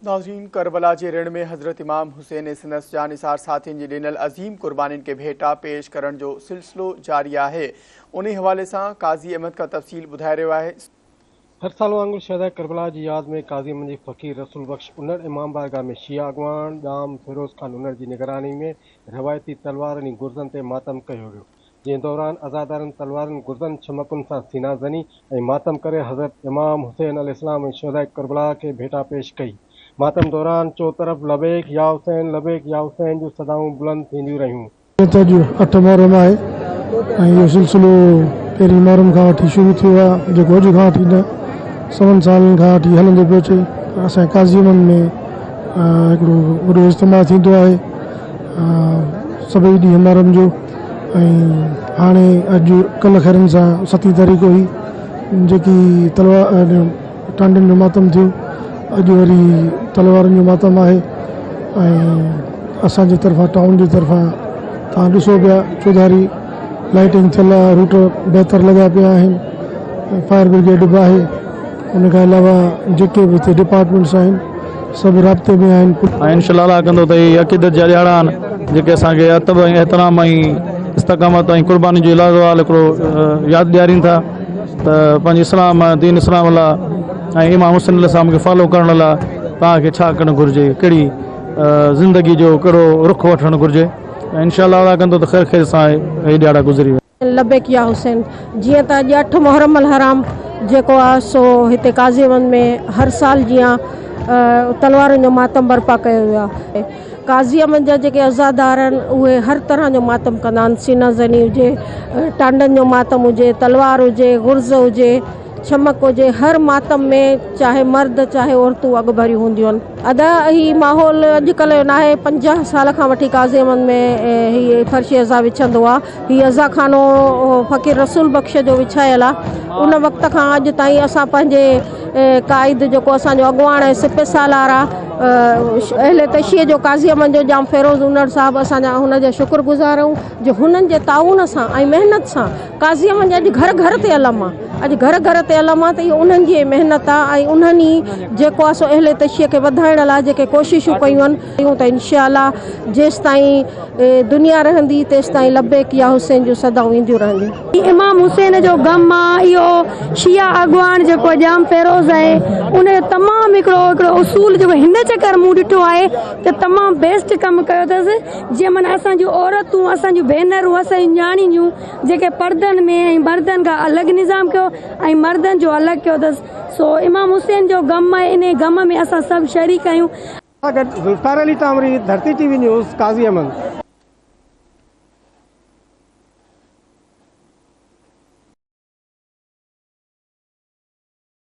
ناظرين ڪربلا جي رڻ ۾ حضرت امام حسين ۽ سندس جانثار ساٿين جي ڏنل عظيم قربانين کي ڀيٽا پيش ڪرڻ جو سلسلو جاري آهي انهي حوالي سان قاضي احمد کا تفصيل ٻڌائي رهيو آهي هر سال وانگر شهداء ڪربلا جي ياد ۾ قاضي احمد جي فقير رسول بخش انڙ امام بارگاهه ۾ شيعه اڳواڻ ڄام فيروز خان انڙ جي نگراني ۾ روايتي تلوارن ۽ گرزن تي ماتم ڪيو ويو. جنهن دوران عزادارن تلوارن، گرزن، چمڪن سان سينا زني ۽ ماتم ڪري حضرت امام حسين عليه السلام ۽ شهداء ڪربلا کي ڀيٽا پيش ڪئي. ماتم دوران چوطرف لبيڪ يا حسين، لبيڪ يا حسين جون صدائون بلند ٿينديون رهيون. اڄ اٺ محرم آهي ۽ اهو سلسلو پهرين محرم کان وٺي شروع ٿيو آهي جيڪو اڄ کان وٺي نه سون سالن کان وٺي هلندو پيو اچي. اسان جي قاضي امن ۾ هڪڙو وڏو اجتماع ٿيندو آهي سڀئي ڏينهن محرم جو. ۽ هاڻي اڄ ڪل خيرن سان ستي تاريخ هئي جيڪي تلوار ٽانڊن جو ماتم ٿيو اڄ وري تلوارن جو ماتم آهي ۽ اسانجي طرفان ٽائون جي طرفان تان ڏسو پيا چوڌاري لائٽنگ ٿيل آهي روٽ بهتر لڳا پيا آهن فائر برگيڊ به آهي ان کان علاوه جيڪي به هتي ڊپارٽمينٽس آهن سڀ رابطي ۾ آهن. ۽ ان شلا لاء ڪندو ته اهي ئي عقيدت جا ڏيهاڙا آهن، جيڪي اسان کي ادب ۽ احترام ۽ استقامت ۽ قرباني جو لازوال هڪڙو ياد ڏيارين ٿا ته پنهنجي اسلام، دين اسلام لاء ۽ امام حسين عليه السلام کي فالو ڪرڻ لاء توهان کي ڇا ڪرڻ گهرجي، ڪهڙي زندگي جو ڪهڙو رخ وٺڻ گهرجي ۽ ان شلا لاء ڪندو ته خير خيري سان اهي ڏيهاڙا گذري ويندا. لبيڪ يا حسين جيئن ته اڄ اٺ محرم الحرام جيڪو آ سو هتي قاضي وند ۾ هر سال جيان تلوارن جو ماتم برپا ڪيو ويو آهي قاضي وند جا جيڪي عزادار آهن اهي هر طرح جو ماتم ڪندا آهن سينه زني هجي ٽانڊن جو ماتم هجي تلوار هجي غرض هجي ڇمڪ جي هر ماتم ۾ چاهي مرد چاهي عورتون اڳڀريون هونديون آهن. ادا هي ماحول اڄڪلهه جو ناهي پنجاهه سال کان وٺي قاضيمن ۾ هي فرش عزا وڇندو آ. هي عزا خانو فقير رسول بخش جو وڇايل آ. ان وقت کان اڄ تائين اسان پنهنجي قائد جيڪو اسان جو اڳواڻ ۽ سپه سالار آ اهل تشيع جو قاضيمن جو ڄام فيروز انڙ صاحب اسان جا هن جا شڪر گذار آهيون جو هنن جي تعاون سان ۽ محنت سان قاضيء منجهه اڄ گهر گهر تي علم آ، اڄ گهر گهر تي علم آ ته اهو انهن جي ئي محنت آ ۽ انهن ئي جيڪو آ سو اهل تشيع کي وڌائڻ لاء جيڪي ڪوششون ڪيون آهن ڪيون ته ان شاء الله جيستائين دنيا رهندي تيستائين لبيڪ يا حسين جون صدائون اينديون رهنديون. امام حسين جو غم آ، اهو شيعه اڳواڻ جيڪو ڄام فيروز آهي ان جو تمام هڪڙو هڪڙو اصول جيڪو هن چڪر مون ڏٺو آهي ته تمام بيسٽ ڪم ڪيو اٿس. جنهن مان اسان جون عورتون، اسان جون ڀينرون، اسان جون نياڻيون جيڪي پردن ۾ ۽ مردن کان الڳ نظام ڪيو ۽ مردن جو الڳ ڪيو اٿس سو امام حسين جو غم آهي انهي غم ۾ اسان سڀ شريڪ آهيون. سان گڏ Zulfiqar Ali Kamri, Dharti T V news, Qazi Ahmed.